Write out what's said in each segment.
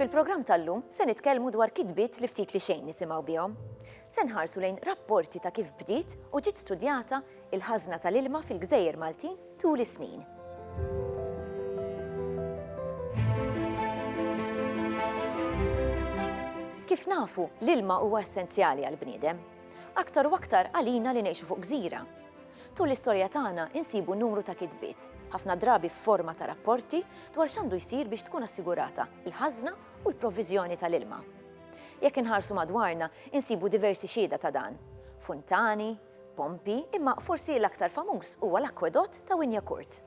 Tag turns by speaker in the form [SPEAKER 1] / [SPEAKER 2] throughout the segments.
[SPEAKER 1] Fil-programm tal-lum se nitkellmu dwar kitbiet li ftit li xejn nisimgħu bihom. Se nħarsu lejn rapporti ta' kif bdiet u ġiet studjata il-ħażna tal-ilma fil-gżejjer Maltin tul is-snin. Kif nafu, l-ilma huwa essenzjali għall-bniedem. Aktar u aktar għalina li ngħixu fuq gżira. Tul l-istorja tagħna insibu numru ta' kitbiet, ħafna drabi f'forma ta' rapporti dwar x'għandu jsir biex tkun assigurata l-ħażna u l-provviżjoni tal-ilma. Jekk inħarsu madwarna insibu diversi xhieda ta' dan, funtani, pompi imma forsi l-aktar famuż huwa l-akwedott ta' Wynyacourt.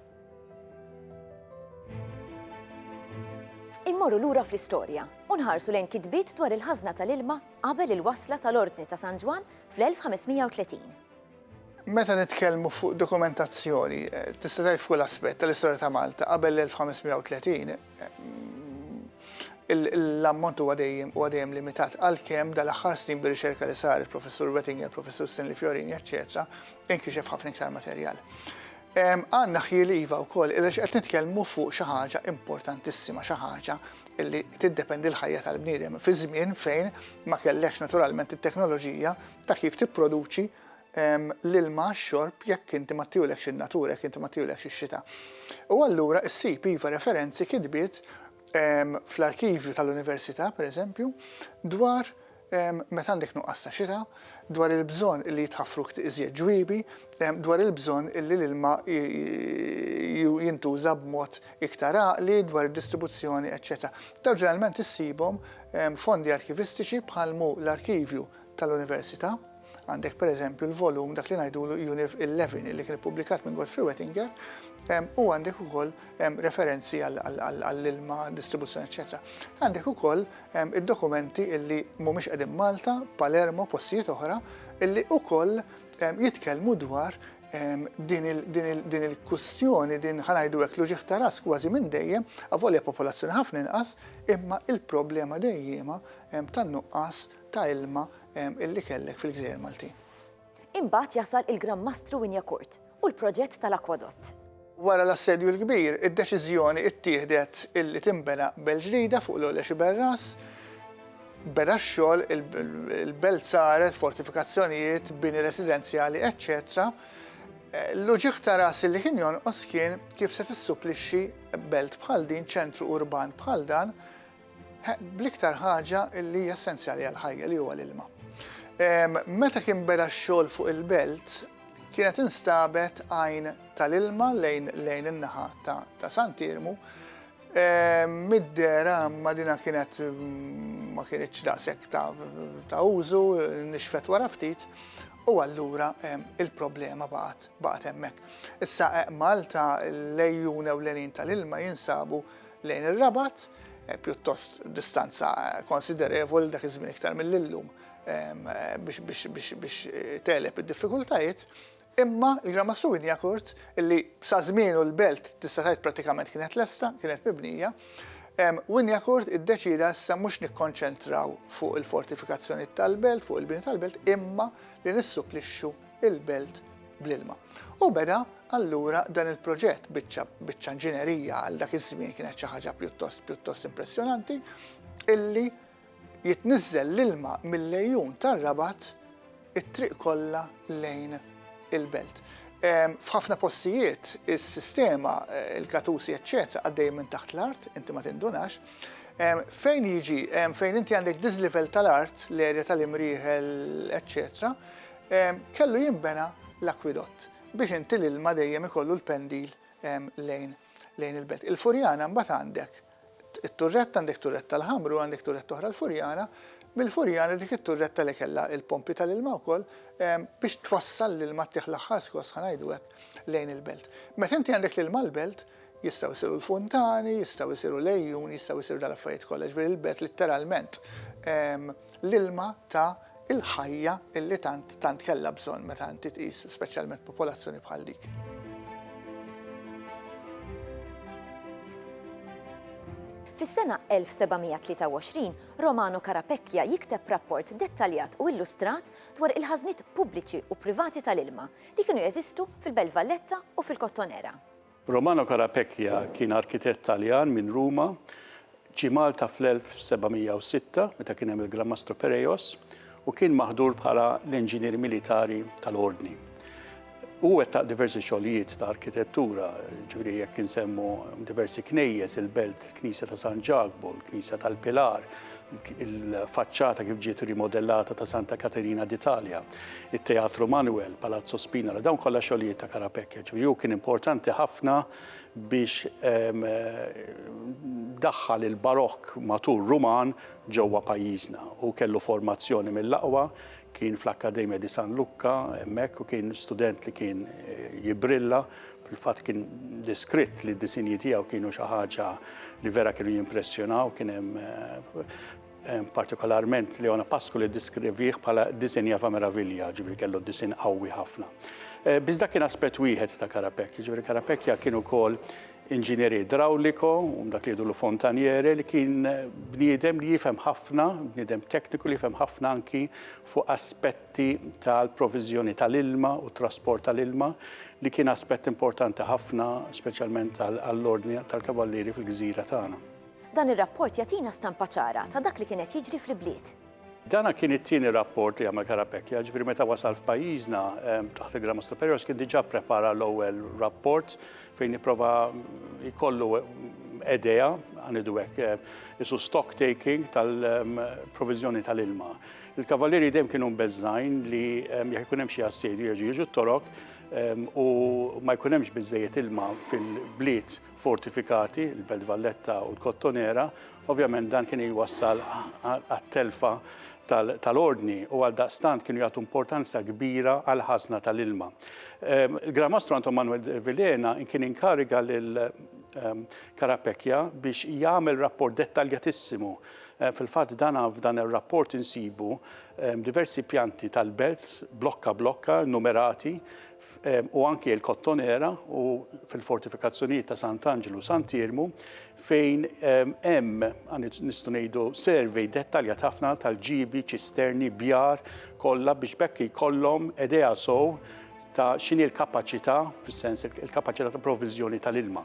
[SPEAKER 1] Immorru lura fl-istorja u nħarsu lejn kitbiet dwar il-ħażna tal-ilma qabel il-wasla tal-Ordni ta' San Ġwann fl-1530.
[SPEAKER 2] Meta nitkellmu fuq dokumentazzjoni, tista' tgħid f'kull aspett tal-istorja ta' Malta qabel l-1530, l-ammont huwa dejjem huwa dejjem limitat għalkemm dal-aħħar snin bir-riċerka li saret, Professur Wettinger, Professur Stanley Fiorini, eċċetera, inkixef ħafna iktar materjal. Għandna ħjiel iva wkoll, għaliex qed nitkellmu fuq xi ħaġa importantissima, xi ħaġa li tiddependi l-ħajja tal-bniedem fi żmien fejn ma kellekx naturalment it-teknoloġija ta' kif tipproduċi l-ilma għax-xorb jekk inti ma ttiulekx in-natura, jekk inti ma ttiulekx ix-xita. U allura ssib iva referenzi, kitbiet fl-arkivju tal-università, pereżempju, dwar meta għandek nuqqas ta' xita, dwar il-bżonn illi jitħaffru iżjed ġwiebi, dwar il-bżonn illi l-ilma jintuża b'mod iktar għaqli, dwar id-distribuzzjoni, eċċetera. Dawn ġeneralment issibhom fondi arkivistiċi bħal hu l-Arkivju tal-Università. Għandek per eżempju l-volum dak li ngħidulu Univ 11 li kien ippubblikat minn Godfrey Wettinger u għandek ukoll referenzi għall-ilma, distribuzzjoni, eċetera. Għandek ukoll id-dokumenti illi mhumiex qegħdin Malta, Palermo, postijiet oħra, illi ukoll jitkellmu dwar din il-kustjoni, din ħanajdu hekk l-uġieħ ta' ras kważi minn dejjem, avolja popolazzjoni ħafna inqas, imma il-problema dejjema tan-nuqqas ta' ilma illi kellek fil-Gżejjer Maltin. Imbagħad
[SPEAKER 1] jasal il-Gran Mastru Wynyacourt u l-proġett tal-akwadott. Wara l-Assedju
[SPEAKER 2] l-Kbir, id-deċiżjoni ttieħdet illi tinbena belt ġdida fuq l-Għolja Xiberras. Beda x-xogħol, il-belt saret, fortifikazzjonijiet, bini residenzjali, eċċetera. L-uġigħ ta' rasi li kien jonqos kien kif se tissupplixxi belt bħal din, ċentru urban bħal dan, bl-iktar ħaġa li hija essenzjali għall-ħajja li huwa l-ilma. Meta kien beda x-xogħol fuq il-belt, kienet instabet għajn tal-ilma lejn lejn in-naħa ta' Santirmu. Mid-dera ma dina kienet ma kienitx daqshekk ta' użu, nixfet wara ftit, u allura il-problema baqgħet hemmhekk. Issa Malta l-ejjun ewlenin tal-ilma jinsabu lejn ir-Rabat, pjuttost distanza konsiderevoli dak iż-żmien iktar milli llum biex tegħleb id-diffikultajiet, imma l-Gran Mastru Wignacourt, li sa żmienu l-belt tista' tgħid prattikament kienet lesta, kienet mibnija, Wignacourt iddeċieda issa mhux nikkonċentraw fuq il-fortifikazzjonijiet tal-belt, fuq il-bini tal-belt, imma li nissupplixxu il-belt bl-ilma. U beda allura dan il-proġett biċċa biċċa inġinerija għal dak iż-żmien kienet xi ħaġa pjuttost pjuttost impressjonanti illi jitniżżel l-ilma mill-lejun tar-rabat it-triq kollha lejn il-belt. Ehm, f'ħafna postijiet is-sistema, eh, il-katusi, eċċetera, għaddej minn taħt l-art, inti ma tindunax, ehm, fejn jiġi, ehm, fejn inti għandek diżlivel tal-art, l-erja tal-imrieħel, eċċetera, Kellu jinbena l-akwidott biex inti l-ilma dejjem ikollu l-pendil lejn lejn il-belt. Il-Furjana mbagħad għandek it-turretta, għandek turretta l-ħamru, għandek turretta oħra l-Furjana, mill-Furjana dik it-turretta li kellha l-pompi tal-ilma wkoll biex twassal l-ilma ttieħ l-aħħar skoss ħa ngħidu hekk lejn il-belt. Meta inti għandek l-ilma l-belt, Jistgħu jsiru l-funtani, jistgħu jsiru l-għejjun, jistgħu jsiru dal-affarijiet kollha, jiġifieri l-belt litteralment l-ilma ta' il-ħajja illi tant tant kellha bżonn meta inti tqis speċjalment popolazzjoni bħal dik.
[SPEAKER 1] Fis-sena 1723, Romano Carapecchia jikteb rapport dettaljat u illustrat dwar il-ħażniet pubbliċi u privati tal-ilma li kienu jeżistu fil-Belt Valletta u fil-Kottonera.
[SPEAKER 3] Romano
[SPEAKER 1] Carapecchia
[SPEAKER 3] kien arkitett Taljan minn
[SPEAKER 1] Ruma.
[SPEAKER 3] Ġie Malta fl-1706 meta kien hemm il-Gran Mastru Pereios u kien maħdur bħala l-inġinier militari tal-Ordni. Hu wettaq diversi xogħlijiet ta' arkitettura, ġifieri jekk insemmu diversi knejjes, il-belt, il-Knisja ta' San Ġakbu, il-Knisja tal-Pilar, il-faċċata kif ġiet rimodellata ta' Santa Katerina d'Italja, it-Teatru Manuel, Palazzo Spina, li dawn kollha xogħlijiet ta' Karapekja. Ġifieri hu kien importanti ħafna biex ehm, daħħal il-barokk matur Ruman ġewwa pajjiżna. Hu kellu formazzjoni mill-aqwa, Kien fl-Akkademja di San Lukka hemmhekk u kien student li kien jibbrilla, fil-fatt kien deskritt li d-disinji tiegħu kienu xi ħaġa li vera kienu jimpressjonaw, kien hemm eh, partikolarment Leona Pasku li diskrivih bħala disinja fa' meravilja, ġifieri kellu disin qawwi ħafna. Eh, Bizda kien aspett wieħed ta' Karapekja, ġifieri Karapekja kien ukoll inġinier idrawliko, u dak li jgħidulu fontaniere, li kien bniedem li jifhem ħafna, bniedem tekniku li jifhem ħafna anki fuq aspetti tal-proviżjoni tal-ilma u t-trasport tal-ilma, li kien aspett importanti ħafna speċjalment għall-Ordni tal-Kavallieri fil-gżira tagħna. Dan ir-rapport
[SPEAKER 1] jagħtina stampa ċara ta' dak li kien qed jiġri fl-ibliet. Dan kien
[SPEAKER 3] it-tieni rapport li għamel Carapecchia, ġifieri meta wasal f'pajjiżna taħt il-Gramma Superiors kien diġà prepara l-ewwel rapport fejn jipprova jkollu edea, għanidu hekk, eh, isu stock taking tal-provizjoni ehm, tal-ilma. Il-kavalieri dem kienu bezzajn li ehm, jekk ikun hemm xi assedi jerġgħu jiġu t-torok ehm, u ma jkun hemmx biżejjed ilma fil-bliet fortifikati, il-Belt Valletta u l-Kottonera, Ovvjament dan kien jwassal għat-telfa tal-ordni u għaldaqstant kienu jagħtu importanza kbira għall-ħażna tal-ilma. Il-Gran Mastru Anton Manuel de Vilhena kien inkariga lil Carapecchia biex jagħmel rapport dettaljatissimu. Fil-fatt dan f'dan ir-rapport insibu diversi pjanti tal-belt, blokka blokka, numerati, F, u anki l-Kottonera u fil-fortifikazzjonijiet ta' Sant'Anġlu u Sant'Iermu fejn hemm nistgħu ngħidu survey dettaljat ħafna tal-ġiebi, ċisterni, bjar kollha biex b'hekk jkollhom idea sew ta' x'inhi l-kapaċità, fis-sens il-kapaċità ta' provviżjoni tal-ilma.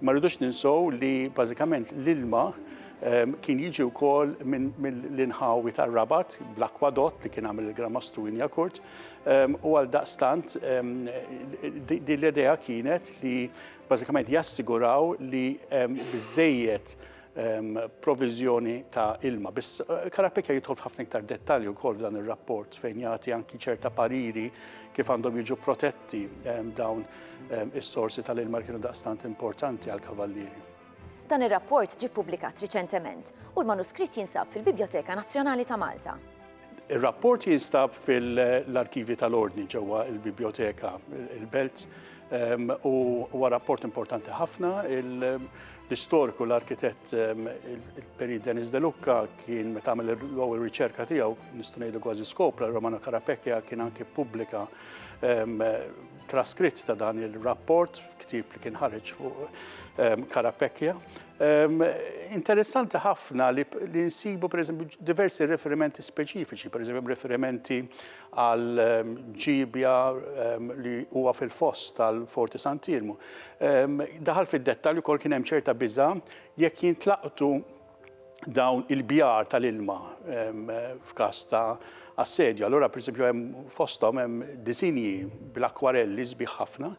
[SPEAKER 3] Ma rridux ninsew li bażikament l-ilma kien jiġi wkoll mill-inħawi tar-Rabat bl-akwadott li kien għamel il-Gran Mastru Injakurt U għal daqstant, di l-idea kienet li bażikament jassiguraw li biżejjed provizjoni ta' ilma. Biss eh, Karapika jidħol f'ħafna iktar dettalji wkoll f'dan ir-rapport fejn jagħti anki ċerta pariri kif għandhom jiġu protetti dawn is-sorsi tal-ilma li kienu daqstant importanti għal kavallieri. Dan ir-rapport
[SPEAKER 1] ġie ppubblikat riċentement u l-manuskritt jinsab fil-Bibjoteka Nazzjonali ta' Malta. Ir-rapport
[SPEAKER 3] jinstab fil-arkivji tal-Ordni ġewwa l-Bibjoteka il-Belt ehm, u huwa rapport importanti ħafna. L-istoriku, l-arkitett, ehm, il-Peri Denis De Lucca kien meta għamel l-ewwel riċerka tiegħu, nistgħu ngħidu kważi skopra, Romano Carapecchia kien anke pubblika ehm, traskritt ta' dan il-rapport f'ktib li kien ħareġ fuq ehm, Karapekja. Ehm, interessanti ħafna li, li nsibu per eżempju diversi riferimenti speċifiċi, per eżempju riferimenti għal ehm, ġibja li huwa fil-foss tal-Forti Santirmu. Daħal fid-dettalju kol kien hemm ċerta biża jekk jintlaqtu dawn il-bjar tal-ilma f'każ ta' assedju. Allura pereżempju hemm fosthom hemm disinji bl-akkwarelli sbieħ ħafna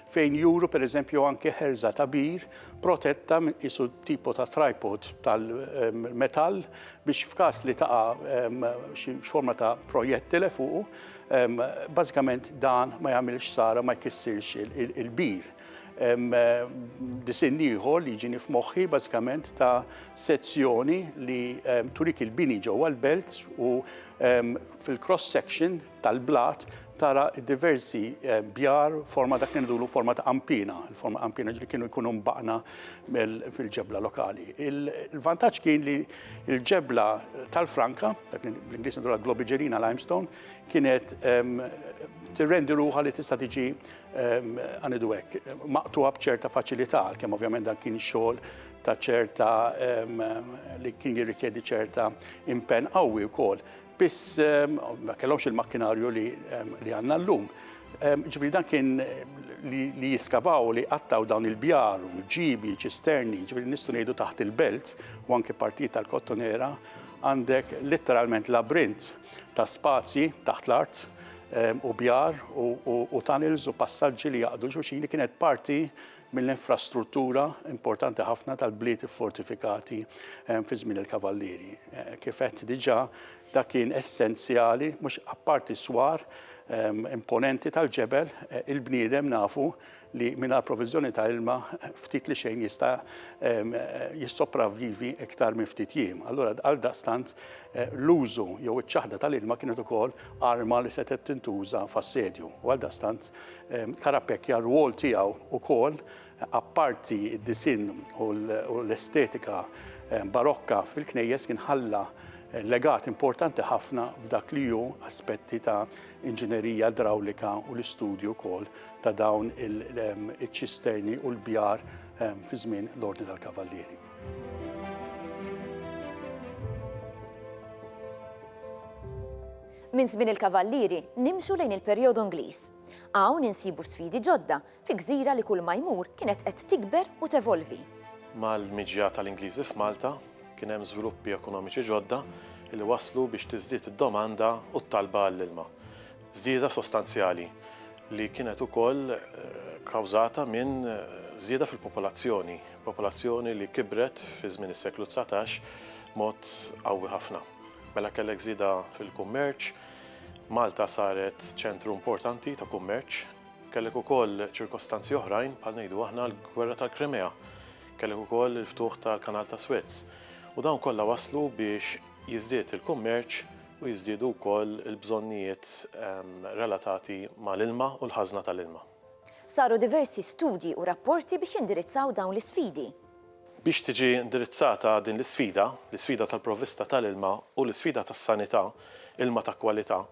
[SPEAKER 3] fejn juru pereżempju anke ħerża ta' bir protetta isu tipo ta' tripod tal-metall biex f'każ li taqa' xi forma ta' projettile fuqu, bażikament dan ma jagħmilx sara ma jkissirx il-bir. Disinn ieħor li jiġini f'moħħi bażikament ta' sezzjoni li turik il-bini ġewwa l-belt u fil-cross section tal-blat tara diversi bjar forma dak li ndulu forma ta' qampina, il-forma qampina ġli kienu jkunu mbaqna fil-ġebla lokali. Il-vantaġġ kien li l-ġebla tal-Franka, dak li bl-Ingliż ndulha globigerina limestone, kienet tirrendi ruħha li tista' tiġi Ħa ngħidu hekk, maqtugħa b'ċerta faċilità, għalkemm ovvjament dan kien xogħol ta' ċerta li kien jirrikjedi ċerta impenn qawwi wkoll. Biss ma kellhomx il-makkinarju li għandna llum. Ġifieri dan kien li jiskavaw li qattaw dawn il-bjar, ġibi, ċisterni, ġifieri nistgħu ngħidu taħt il-belt u anke partijiet tal-Kottonera għandek letteralment labrint. ta' spazji taħt l-art u bjar u tunnels u passaġġi li jaqdu xulxin li kienet parti mill-infrastruttura importanti ħafna tal-bliet fortifikati fi żmien il-kavallieri. Eh, kif qed diġà dak kien essenzjali mhux apparti swar imponenti tal-ġebel eh, il-bniedem nafu li mingħajr proviżjoni ta' ilma ftit li xejn jista' jissopravvivi iktar minn ftit jiem. Allura għal daqstant eh, l-użu jew iċ-ċaħda tal-ilma kienet ukoll arma li setgħet tintuża f'assedju. U għal daqstant Karapekja r-rwol tiegħu ukoll apparti d-disin u l-estetika barokka fil-knejjes kien ħalla legat importanti ħafna f'dak li ju aspetti ta' inġinerija drawlika u l-istudju kol ta' dawn iċ-ċisterni u l-bjar fi żmien l-Ordni tal-Kavallieri.
[SPEAKER 1] Minn żmien il-Kavallieri nimxu lejn il-perjodu Ingliż. Hawn insibu sfidi ġodda fi gżira li kull ma jmur kienet qed tikber u tevolvi. Mal-miġja
[SPEAKER 4] tal-Ingliżi f'Malta kien hemm żviluppi ekonomiċi ġodda li wasslu biex tiżdied id-domanda u t-talba għall-ilma. Żieda sostanzjali li kienet ukoll kawżata minn żieda fil-popolazzjoni, popolazzjoni li kibret fi żmien is-seklu dsatax b'mod qawwi ħafna. Mela kellek żieda fil-kummerċ, Malta saret ċentru importanti ta' kummerċ. Kellek ukoll ċirkostanzi oħrajn bħal ngħidu aħna l-Gwerra tal-Krimea, kellek ukoll il-ftuħ tal-Kanal tas-Swez u dawn kollha wasslu biex jiżdied il-kummerċ u jiżdiedu wkoll il-bżonnijiet relatati mal-ilma u l-ħażna tal-ilma. Saru
[SPEAKER 1] diversi studji u rapporti biex jindirizzaw dawn l-isfidi. Biex tiġi
[SPEAKER 4] indirizzata din l-isfida, l-isfida tal-provvista tal-ilma u l-isfida tas-sanità, ilma ta' kwalità,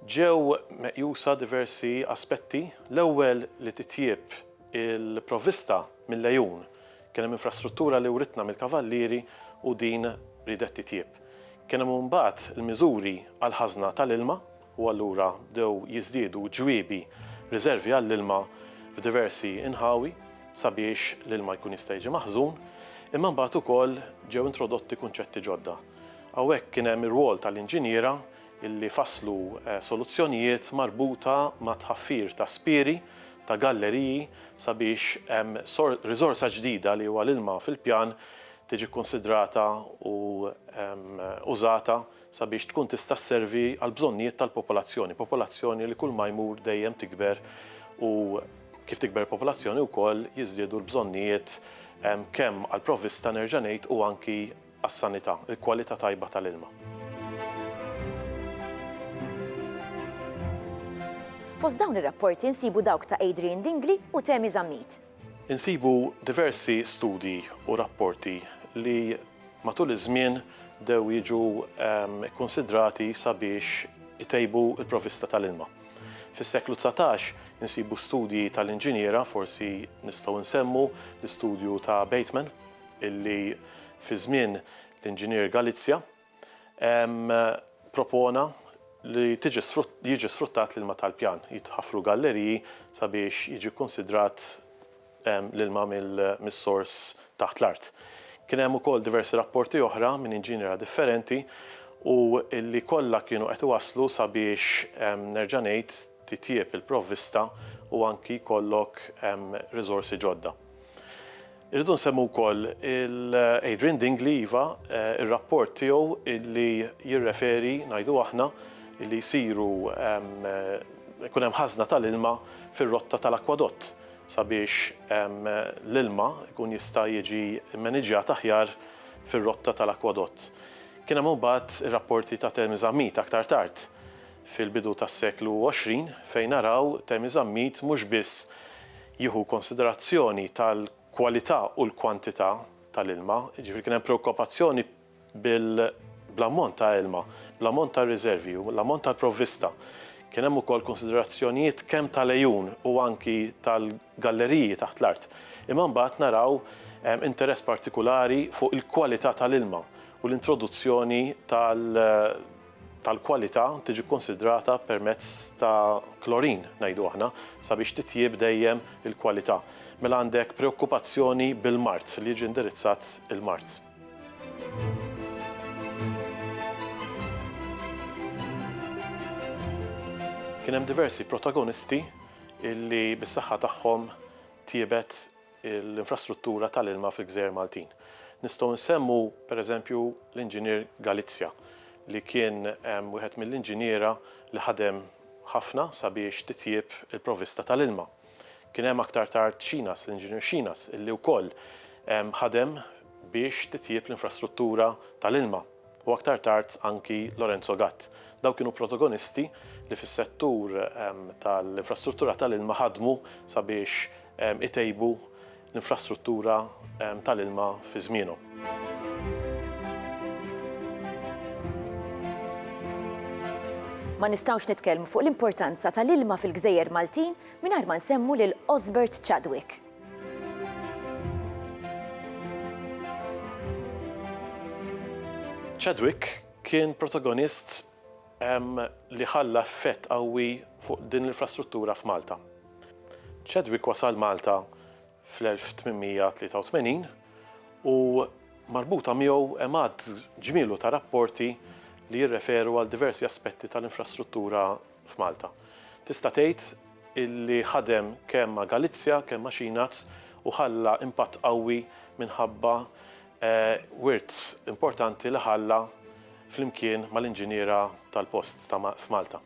[SPEAKER 4] ġew meqjusa diversi aspetti, l-ewwel li titjieb il-provvista mill-għejun Kien hemm infrastruttura li writna mill-Kavallieri u din riedet titjieb. Kien hemm imbagħad il-miżuri għall-ħażna tal-ilma u allura bdew jiżdiedu ġwiebi, riservi għall-ilma f'diversi inħawi sabiex l-ilma jkun jista' jiġi maħżun. Imma imbagħad ukoll ġew introdotti kunċetti ġodda. Hawnhekk kien hemm ir-rwol tal-inġiniera li fasslu soluzzjonijiet marbuta mat-tħaffir ta' spieri, ta' galleriji sabiex riżorsa ġdida li huwa l-ilma fil-pjan tiġi kkunsidrata u użata sabiex tkun tista' sservi għall-bżonnijiet tal-popolazzjoni, popolazzjoni li kulma jmur dejjem tikber u kif tikber il-popolazzjoni wkoll jiżdiedu l-bżonnijiet kemm għall-provvista nerġa' ngħid u anki għas-sanità, il-kwalità tajba tal-ilma.
[SPEAKER 1] Fost dawn ir-rapporti nsibu dawk ta' Adrian Dingli u Temi Zammit. Insibu
[SPEAKER 4] diversi studji u rapporti li matul iż-żmien bdew jiġu kkunsidrati sabiex itejbu l-provvista tal-ilma. Fis-seklu dsatax insibu studji tal-inġiniera, forsi nistgħu nsemmu l-istudju ta' Bateman, illi fi żmien l-Inġinier Galizia propona li jiġi sfruttat l-ilma tal-pjan, jitħaffru galleriji sabiex jiġi kkunsidrat l-ilma mis-sors taħt l-art. Kien hemm ukoll diversi rapporti oħra minn inġiniera differenti u illi kollha kienu qed iwasslu sabiex nerġa' ngħid, titjieb il-provvista u anki jkollok riżorsi ġodda. Irridu nsemmu wkoll il-Adrian Dingli, iva, ir-rapport tiegħu li jirreferi, ngħidu aħna, li jsiru jkun hemm ħażna tal-ilma fir-rotta tal-akwadott sabiex l-ilma jkun jista' jiġi mmaniġġjat aħjar fir-rotta tal-akwadott. Kien hemm imbagħad ir-rapporti ta' Thermes Ammit aktar tard fil-bidu tas-seklu 20 fejn naraw Temi Zammit mhux biss jieħu konsiderazzjoni tal-kwalità u l-kwantità tal-ilma, jiġifieri kien hemm preokkopazzjoni bl-ammont ta' ilma, bl-ammont ta' riservi u l-ammont tal-provvista. Kien hemm ukoll konsiderazzjonijiet kemm tal-għejun u anki tal-galleriji taħt l-art. Imma mbagħad naraw interess partikulari fuq il-kwalità tal-ilma u l-introduzzjoni tal- tal-kwalità tiġi kkunsidrata permezz ta' klorin, ngħidu aħna, sabiex titjieb dejjem il-kwalità. Mela għandek preokkupazzjoni bil-mard, li jiġi indirizzat il-mard. Kien hemm diversi protagonisti li bis-saħħa tagħhom tjiebet l-infrastruttura tal-ilma fil-gżejjer Maltin. Nistgħu nsemmu, pereżempju, l-Inġinier Galizia li kien wieħed mill-inġiniera li ħadem ħafna sabiex titjieb il-provvista tal-ilma. Kien hemm aktar tard Xinas, l-Inġinier Xinas, illi wkoll ħadem biex titjieb l-infrastruttura tal-ilma. u aktar tard anki Lorenzo Gatt. Dawn kienu protagonisti li fis-settur tal-infrastruttura tal-ilma ħadmu sabiex itejbu l-infrastruttura tal-ilma fi żmienhom.
[SPEAKER 1] Ma nistgħux nitkellmu fuq l-importanza tal-ilma fil-gżejjer Maltin mingħajr ma nsemmu lil Osbert Chadwick.
[SPEAKER 4] Chadwick kien protagonist li ħalla effett qawwi fuq din l-infrastruttura f'Malta. Chadwick wasal Malta fl-1883 u marbuta miegħu hemm għadd ġmielu ta' rapporti li jirreferu għal diversi aspetti tal-infrastruttura f'Malta. Tista' tgħid illi ħadem kemm ma' Galizja, kemm ma' Xinaz u ħalla impatt qawwi minħabba wirt importanti li ħalla flimkien mal-inġiniera tal-post ta' f'Malta.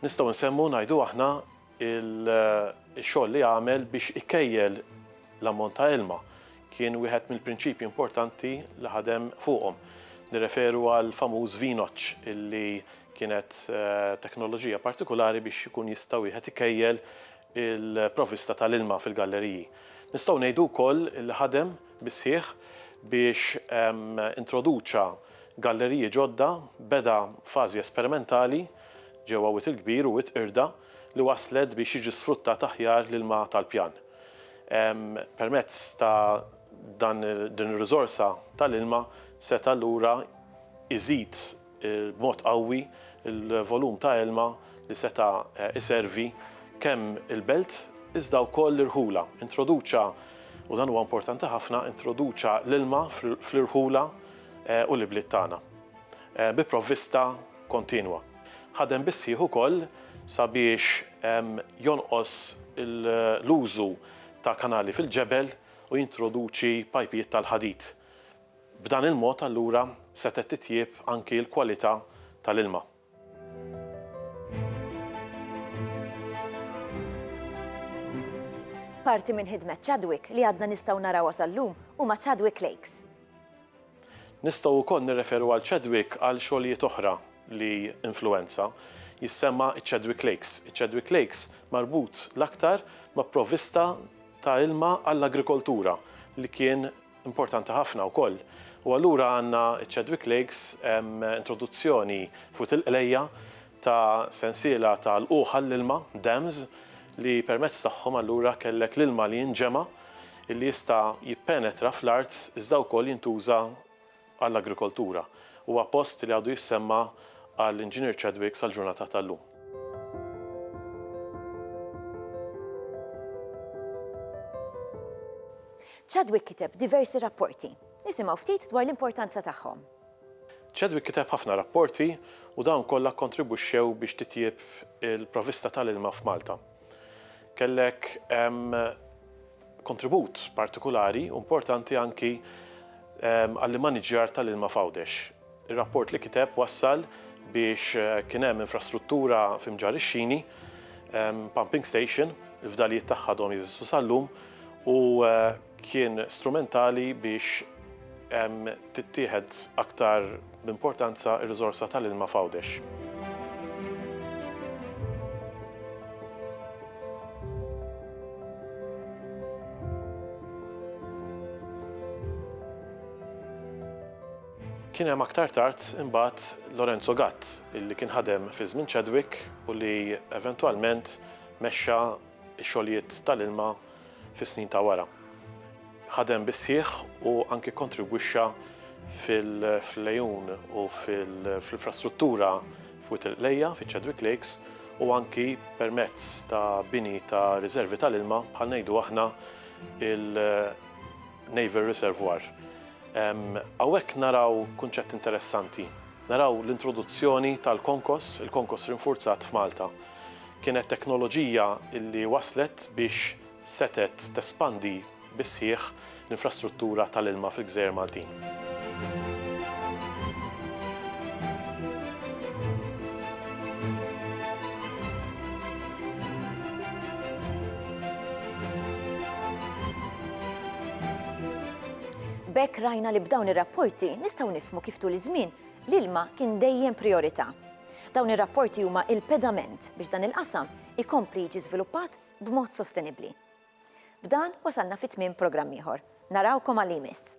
[SPEAKER 4] Nistgħu nsemmu ngħidu aħna il-xogħol li għamel biex ikejjel l-ammont ta' ilma kien wieħed mill-prinċipji importanti li ħadem fuqhom. Nirreferu għal famuż vinoċ illi kienet eh, teknoloġija partikolari biex ikun jista' wieħed ikejjel il-provista tal-ilma fil-galleriji. Nistgħu ngħidu wkoll li ħadem bisħiħ biex ehm, introduċa galleriji ġodda beda fażi esperimentali ġewwa Wied il-Kbir u Wied Qirda li wasslet biex jiġi sfruttat aħjar l-ilma tal-pjan. Permezz ta' dan din ir-riżorsa tal-ilma seta' allura jżid b'mod qawwi l-volum ta' ilma li seta' jservi kemm il-belt iżda wkoll l-irħula. Introduċa, u dan huwa importanti ħafna, introduċa l-ilma fl-irħula u l-ibliet tagħna bi provvista, kontinwa. Ħadem bis-sħiħ ukoll sabiex jonqos l-użu ta' kanali fil-ġebel u jintroduċi pajpijiet tal-ħadid. B'dan il-mod allura setgħet titjieb anki l-kwalità tal-ilma.
[SPEAKER 1] Parti minn ħidmet Chadwick li għadna nistgħu narawha sal-lum huma Chadwick Lakes.
[SPEAKER 4] Nistgħu wkoll nirreferu għal Chadwick għal xogħlijiet oħra li influwenza. Jissemma ċ-Chadwick Lakes. Iċ-Chadwick Lakes marbut l-aktar ma' provvista ta' ilma għall-agrikoltura li kien importanti ħafna wkoll. U allura għandna ċ-Chadwick Lakes introduzzjoni f'Wied il-Qlejja ta' sensiela ta' lqugħ għall-ilma, dams, li permezz tagħhom allura kellek l-ilma li jinġema' li jista' jippenetra fl-art iżda wkoll jintuża għall-agrikoltura. Huwa post li għadu jissemma għal Inġinier Chadwick sal-ġurnata tal-lum.
[SPEAKER 1] Chadwick kiteb diversi rapporti. Nisimgħu ftit dwar l-importanza tagħhom. Chadwick
[SPEAKER 4] kiteb ħafna rapporti u dawn kollha kkontribwixxew biex titjieb il-provvista tal-ilma f'Malta. Kellek kontribut partikulari u importanti anki għall-immaniġġjar tal-ilma f'Għawdex. Ir-rapport li kiteb wassal biex kien hemm infrastruttura fi Mġarr ix-Xini, pumping station, il-fdalijiet tagħha għadhom jeżistu sal-lum u kien strumentali biex tittieħed aktar b'importanza r-riżorsa tal-ilma f'Għawdex. Kien hemm aktar tard imbagħad Lorenzo Gatt, li kien ħadem fi żmien Chadwick u li eventwalment mexxa ix-xogħlijiet tal-ilma fis-snin ta' wara. Ħadem bis-sħiħ u anki kkontribwixxa fil-għejun u fl-infrastruttura f'Wied il-Qlejja, fiċ-Chadwick Lakes, u anki permezz ta' bini ta' riservi tal-ilma, bħal ngħidu aħna il-Naval Reservoir. Hawnhekk naraw kunċett interessanti. Naraw l-introduzzjoni tal-Konkos, il-Konkos Rinfurzat f'Malta. Kienet teknoloġija li wasslet biex setgħet tespandi bis-sħiħ l-infrastruttura tal-ilma fil-gżejjer Maltin.
[SPEAKER 1] B'hekk rajna li b'dawn ir-rapporti nistgħu nifhmu kif tul iż-żmien l-ilma kien dejjem prijorità. Dawn ir-rapporti huma il-pedament biex dan il-qasam ikompli jiġi żviluppat b'mod sostenibbli. B'dan wasalna fi tmiem programm ieħor. Narawkom għal li jmiss.